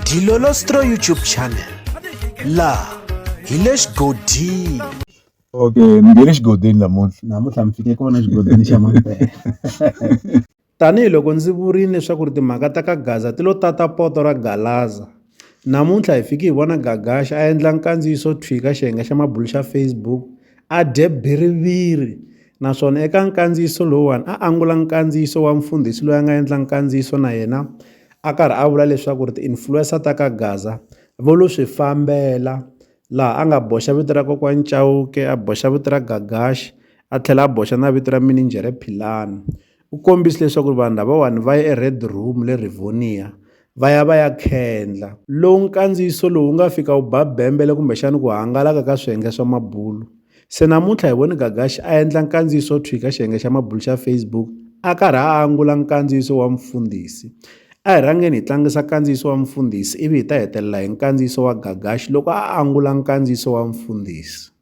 Dilolostro YouTube channel laha hi le xigodini okay ni nge le xigodini namuntlha namuntlha mi fike kona xigodini xa mampela tanihi loko ndzi vurile leswaku ri timhaka ta ka gaza ti lo tata poto ra galaza namuntlha hi fike hi vona gagaxa a endla nkandziyiso thwika xiyenge xa mabulu xa facebook a dye biriviri Naswona eka nkandziyiso lowuwani a angula nkandziyiso wa mfundhisi loyi a nga endla nkandziyiso na yena a karhi a vula leswaku ri ti-influencer ta ka Gaza vo lo swi fambela laha a nga boxa vito ra kokwani Chauke a boxa vito ra Gagash a tlhela a boxa na vito ra mininjhere Philani. U kombise leswaku vanhu lavawani va ye eRed Room le Rivonia va ya va ya khendla. Lowu nkandziyiso lowu wu nga fika wu ba bembele kumbexana ku hangalaka ka swiyenge swa mabulu. Se namuntlha hi vone Gagashi a endla nkandziyiso thwi ka xiyenge xa mabulu xa Facebook a karhi a angula nkandziyiso wa mufundhisi. A hi rhangeni hi tlangisa nkandziyiso wa mufundhisi ivi hi ta hetelela hi nkandziyiso wa Gagashi loko a angula nkandziyiso wa mufundhisi.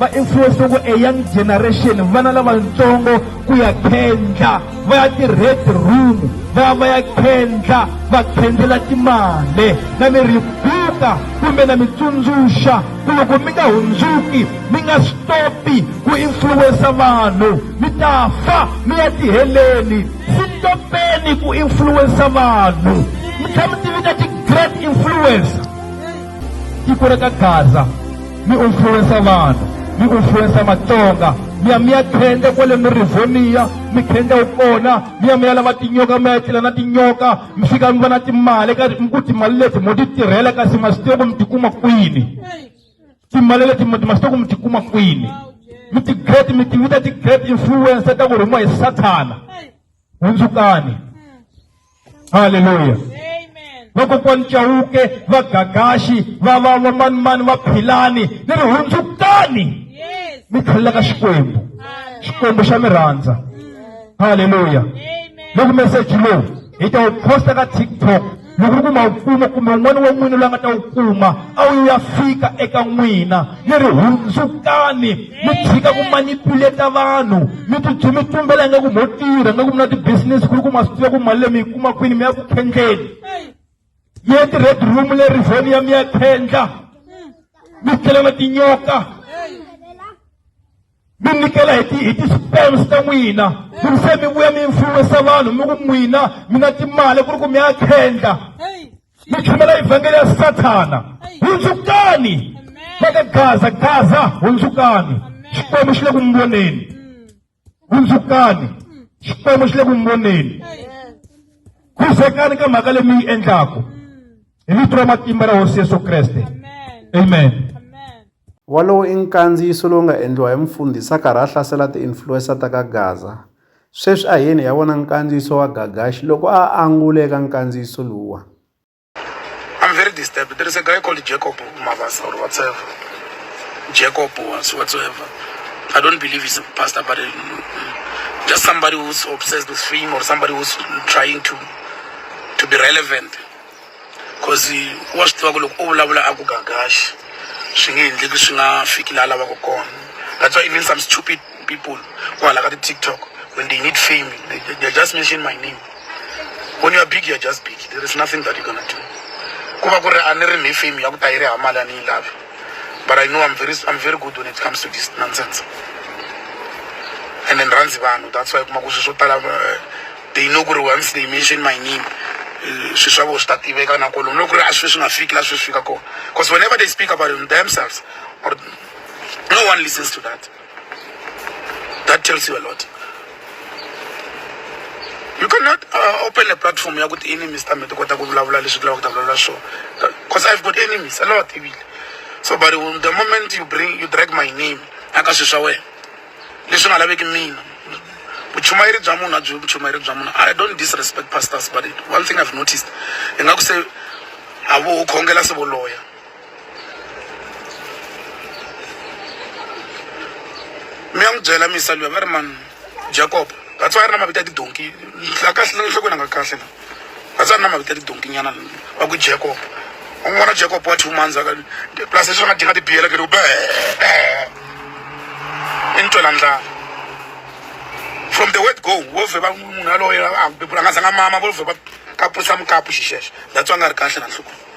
va influence ku a young generation vana lavatsongo ku ya khendla va ya ti-red room va ya va ya khendla va khendzela timali na mi ri buka kumbe na mi tsundzuxa ku loko mi nga hundzuki mi nga stopi ku influensa vanhu mi ta fa mi ya tiheleni si topeni ku influensa vanhu mi tlhela mi tivita ti-great influencer tiko ra ka gaza mi influensa vanhu mi influensa matsonga mi ya mi ya khenda kwale mirivoniya mi khenda wu kona mi ya mi ya lava tinyoka mi ya tlela na tinyoka mi fika mi va na timali ka mi ku timali leti mo ti tirhela kasi ma swi tiva ku mi tikuma kwini timali leti ma swi tiva ku mi tikuma kwini mi ti-great mi ti vita ti-great influencer ta ku rhumiwa hi sathana hundzukani haleluya vakokwani chauke vagagaxi va va vamanimani va philani ni ri hundzukani mi tlhelela ka xikwembu xikwembu xa mi rhandza haleluya loko meseji lowu hi ta wu posta ka tiktok loko u kuma mfumo kumbe un'wana wa n'wina loyi a nga ta wu kuma a wu ya fika eka n'wina mi ri hundzukani mi tshika ku manipuleta vanhu mi tibyi mi tumbela nga ku mo tirha nga ku mi na ti-business ku ri ku ma swi tiva ku mali leyi mi yi kuma kwini mi ya ku khendleni mi ya ti-red room le rivheni ya mi ya khendla mi tlela na tinyoka mi nyikela hi ti hi ti-spams ta n'wina ku ri se mi vuya mi influensa vanhu mi ku n'wina mi na timali ku ri ku mi ya khendla mi chumela evhangeli ya sathana hundzukani va ka gaza gaza hundzukani xikwembu xi le ku mi voneni hundzukani xikwembu xi le ku mi voneni khuzekani ka mhaka leyi mi yi endlaku hi vito ra matimba ra hosi yesu kreste amen wolowo i nkandziyiso lowu nga endliwa hi mfundhisi a karhi a hlasela ti-influensa ta ka gaza sweswi a yeni ya vona nkandziyiso wa gagaxi loko a angule eka nkandziyiso luwa I'm very disturbed. There is a guy called Jacob Mavasa or whatever. Jacob was whatsoever. I don't believe he's a pastor, but um, just somebody who's obsessed with fame or somebody who's trying to to be relevant. coz wa swi tiva ku loko o vulavula a ku gagaxi swi nge endleki swi nga fiki laha lavaka kona that's why even some stupid people kwala ka ti-tiktok when they need fame they, they, they just mention my name when you are big you are just big there is nothing that you gonna do ku va ku ri a ni ri ni fame ya ku ta yi ri hamali a ni yi lavi but i know i'm very i'm very good when it comes to this nonsense and then rhandzi vanhu that's why kuma ku swilo swo tala eh, they know ku ri once they mention my name eh, swi swa vo swi ta tiveka na kolomu loko ku ri a swi swi nga fiki laha swi swi fika kona because whenever they speak about it themselves or no one listens to that that tells you a lot you cannot uh, open a platform ya ku ti-enemies ta me ti kota ku vulavula leswi ti lavaka ku ta vulavula swona because i've got enemies a lot ebile so but the moment you bring you drag my name aka swilo swa wena leswi nga laveki mina vuchumayeri bya munhu a byi vuchumayeri bya munhu i don't disrespect pastors but one thing i've noticed hi nga ku se a vo khongela se vo loya mi ya n'wi byela misa luya va ri mani jacob that's why a ri na mavito ya tidonki la kahle enhlokweni a nga kahle la va tsari na mavito ya tidonkinyana va ku jacob u n'wi vona jacob wa two months aka plus leswi va nga dinga tibiyela ke loko i ni twela ndlala from the word go wo vhe va munhu yaloye a nga zanga mama vo vhe va kapusa mukapu xixexo that's why a nga ri kahle na nhlokweni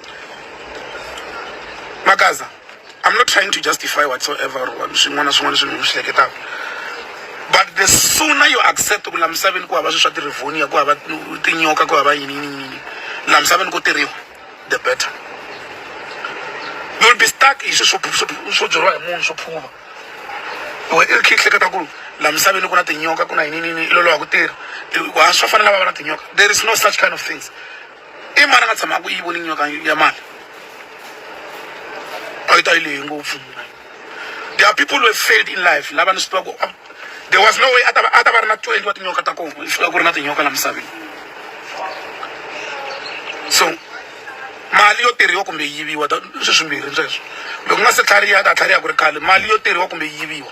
makaza i'm not trying to justify whatsoever or swin'wana na swin'wana swilo mi swi hleketaka but the sooner you accept ku la misaveni ku hava swi swa tirivhonia ku hava tinyoka ku hava yini yini yini la misaveni ku tirhiwa the better you'll be stuck hi swi swo swo byeriwa hi munhu swo phuva we i ri khe hleketa ku la misaveni ku na tinyoka ku na yini yini yini i loloha ku tirha wa swa fanela va va na tinyoka there is no such kind of things i mani a nga tshamaka ku yi voni nyoka ya mali a yi ta yi lehe ngopfu there are people who have failed in life lava ni swi tiva ku ah, there was no way a ta va a ta va ri na twenty wa tinyoka ta kona yi fika ku ri na tinyoka la misaveni so mali yo tirhiwa kumbe yi yiviwa sweswimbirhi sweswo loko ku nga se tlhariha ta tlhariha ku ri khale mali yo tirhiwa kumbe yi yiviwa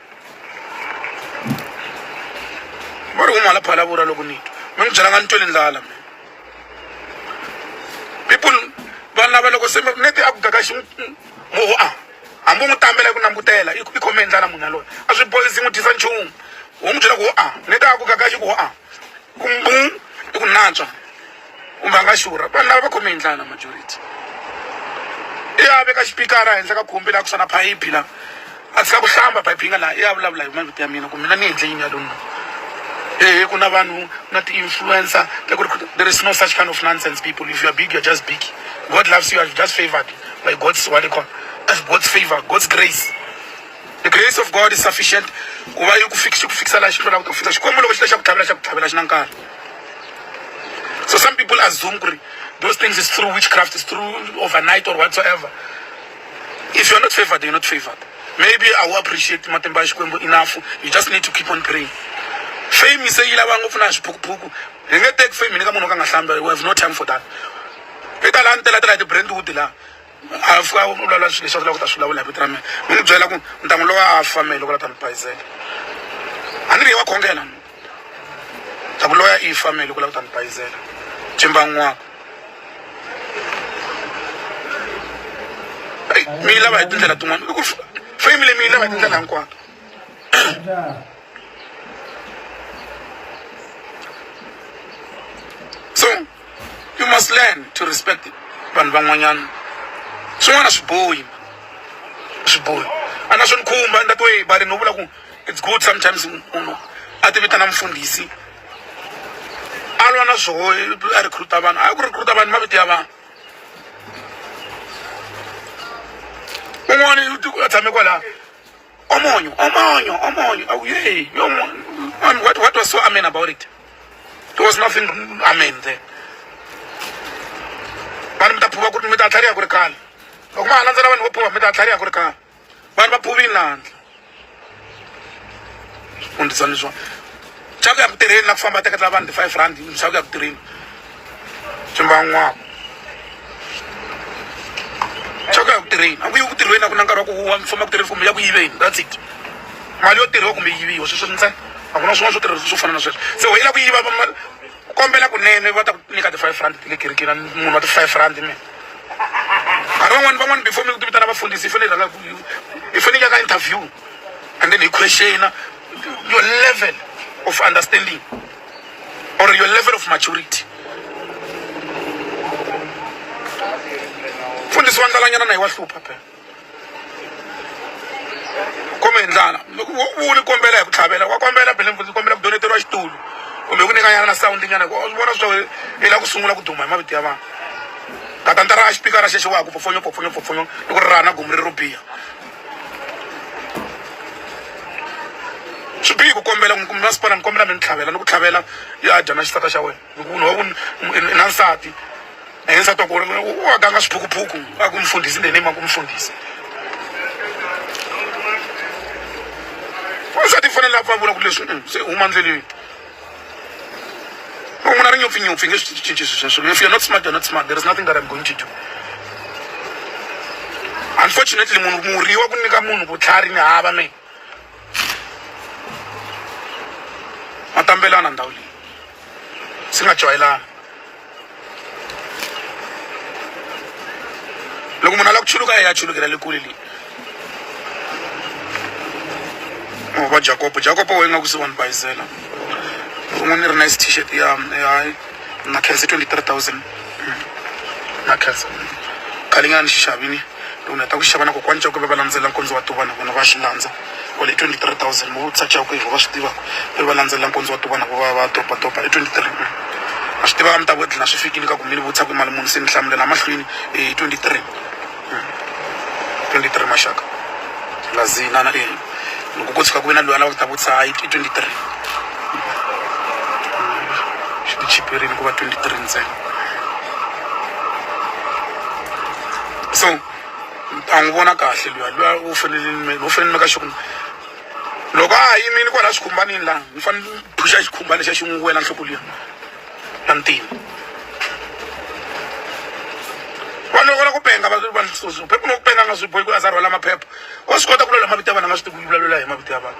va ri umala phalavura loko ni twa mi n'wi byela nga ni tweli ndlala mina people vanhu lava loko se neti a ku gaka xi moho a hambi u n'wi tambela hi ku langutela i khome hi ndlala munhu yaloye a swi boyisi n'wi dyisa nchumu u n'wi byela ku ho a neti a ku gaka xi ku ho a ku mbum i ku natswa kumbe a nga xurha vanhu lava va khome hi ndlala majority i ya veka xipikara henhla ka khumbi laha kusuka na phayiphi laha a tshika ku hlamba phayiphi yi nga laha i ya vulavula hi mavito ya mina ku mina ni endle yini ya lona ehe ku na vanhu na ti-influencer ta ku ri there is no such kind of nonsense people if you are big you're just big god loves you are just favored by god's what they call as god's favor god's grace the grace of god is sufficient ku va yi ku fik- xi ku fikisa laha xi hlwelaka ku fika xikwembu loko xi ta xa ku tlhavela xa ku tlhavela xi na nkarhi so some people assume ku ri those things is through witchcraft is through overnight or whatsoever if you're not favored you're not favored maybe i will appreciate matimba ya xikwembu enough you just need to keep on praying fame se yi lava ngopfu na swiphukuphuku hi nge teki fame ni ka munhu wo ka nga hlambi we have no time for that eka laha ni tela tela hi ti-brandwood laha a pfuka a vulavula swilo leswi a vulaka ku ta swi vulavula hi vito ra mina mi ni byela ku ni ta n'wi lowa a fa mehe loko la ta ni bayizela a ni ri ye wa khongela ta ku loya i fa mehe loko la ku ta ni bayizela ximbangwaka mi yi lava hi tindlela tin'wana i ku fame leyi mi yi lava hi tindlela hinkwato so you must learn to respect vanhu van'wanyana swin'wana swi bohi swi bohi a na swi ni khumba ni ta twe bari no vula ku it's good sometimes munhu a ti vitana mufundhisi a lwa na swoho a recruta vanhu a ku recruta vanhu mavito ya vanhu un'wana a tshame kwalaha omonyo omonyo omonyo oh, hey, and what, what was so amen about it there was nothing amen there vanhu mi ta phuva ku ri mi ta tlhariha ku ri kale loko ma ha landzela vanhu vo phuva mi ta tlhariha ku ri kale vanhu va phuvini lahandla fundisani leswiwani xa ku ya ku tirheni na ku famba teketela vanhu ti-five rand xa ku ya ku tirheni swi mban'waka xa ku ya ku tirheni a ku yi ku tirhweni a ku na nkarhi wa ku wa mi famba ku tirheni kumbe ya ku yiveni that's it mali yo tirhiwa kumbe yiviwa sweswo ntsena a ku na swin'wana swo tirhisa swo fana na sweswo se wena ku yiva mali kombela kunene va ta ku nyika ti-five rand ti le kerekeni munhu wa ti-five rand mina nkarhi van'wani van'wani before mi ku ti vitana vafundhisi i fanele i rhanga i fanele ya ka interview and then hi questiona your level of understanding or your level of maturity mfundhisi wa ndlalanyana na hi wa hlupha phela kumbe hi ndlala u ni kombela hi ku tlhavela wa kombela phela mfundhisi kombela ku doneteriwa xitulu kumbe ku nyikanyana na sawundi nyana ku vona swa hi la ku sungula ku duma hi mavito ya vanhu katantara a xipikara xexo wa ha ku pfopfonyo pfopfonyo pfopfonyo loko ri raha na gomu ri ro biha swi bihi ku kombela ku mi masipala ni kombela mi ni tlhavela ni ku tlhavela ya dya na xisata xa wena hi ku munhu wa ku i na nsati na ye nsati wa ku u a ganga swiphukuphuku a ku mfundhisi ndeni ma ku mfundhisi wansati i fanele a pfa a vona ku leswi se huma ndleleni van'wana ri nyopfi nyopfi nge swi cinci swi sweswo if you're not smart you're not smart there is nothing that i'm going to do unfortunately munhu murhi wa ku nyika munhu vutlhari ni hava me ma tambelana ndhawu leyi si nga joyelana loko munhu a lava ku chuluka ya chulukela le kule leyi oh, va jakopo jakopo wa ingaku se wa ni bayizela un'we ni ri na is t-shirt ya hayi na khense twenty three thousand hmm. na khense khale nga ni xi xavini loko ni heta ku xava na kokwani jakopo va landzela nkondzo wa tuva na vona va xi landza wa le 23000 vo tsakela ku yehova swi tivaka ve va landzelela nkondzo wa ti vona vo va va dopadopa e 23 a swi tivaka mi ta vodlina swi fikile ka ku mi ni vutisa ku mali muni se ni hlamulela mahlweni e 23 23 maxaka lazina na ina loko ko tshuka ku ve na loyi a lava ku ta vutisa hayi i 23 swi ti chiperini ku va 23 ntsena so ni ta n'wi vona kahle luya luya u fanele ni u fanele ni maka sure loko a ha yimile kwala xikhumbanini laha ni fanele ni phusha xikhumbana xa xi n'wi wela nhloko liya na ntima vanhu loko va la ku penga va va phepha loko penga a nga swi bohi ku a za rhwala maphepha wa swi kota ku lula mavito ya vanhu a nga swi tivi ku vulavula hi mavito ya vanhu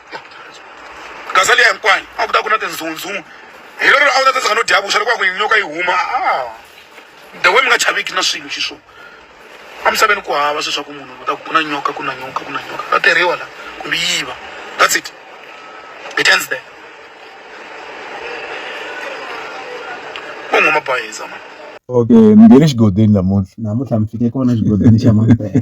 gaza liya hinkwayo a ku ta ku na tindzhundzhungu hi lero a wu ta tsandzeka no dya vuxa loko a ku yinyoka yi huma a the way mi nga chaviki na swilo xi swona emisaveni ku hava sweswaku munhu u ta ku ku na nyoka ku na nyoka ku na nyoka va tirhiwa la kumbe yiva that's it it ends there u nghuma bayiza mani okay mi nge le xigodini namuntlha namuntlha mi fike kona xigodini xa mampela